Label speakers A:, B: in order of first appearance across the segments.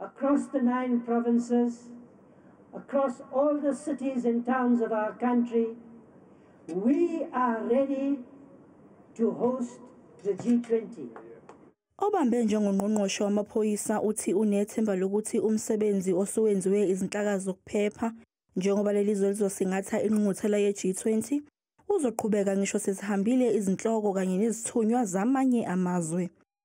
A: Across the nine provinces, across all the cities and towns of our country, we are ready to host the G20. Obambe
B: njengongqongqoshe wamaphoyisa uthi unethemba lokuthi umsebenzi osuwenziwe izinhlaka zokuphepha njengoba leli zwe lizosingatha inqunquthela ye-G20 uzoqhubeka ngisho sezihambile izinhloko kanye nezithunywa zamanye amazwe.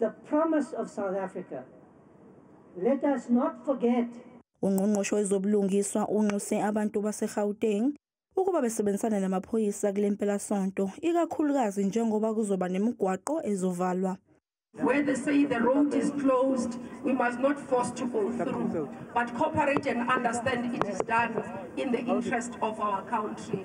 A: the promise of South Africa. Let us not forget. Ungqongqoshe
B: wezobulungiswa unxuse abantu baseGauteng ukuba besebenzisane namaphoyisa kule mpelasonto ikakhulukazi njengoba kuzoba nemigwaqo ezovalwa Where they
C: say the road is closed, we must not force to go through, but cooperate and understand it is done in the interest of our country.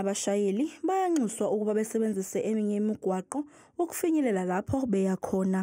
B: Abashayeli bayanxuswa ukuba besebenzise eminye imigwaqo ukufinyelela lapho beya khona.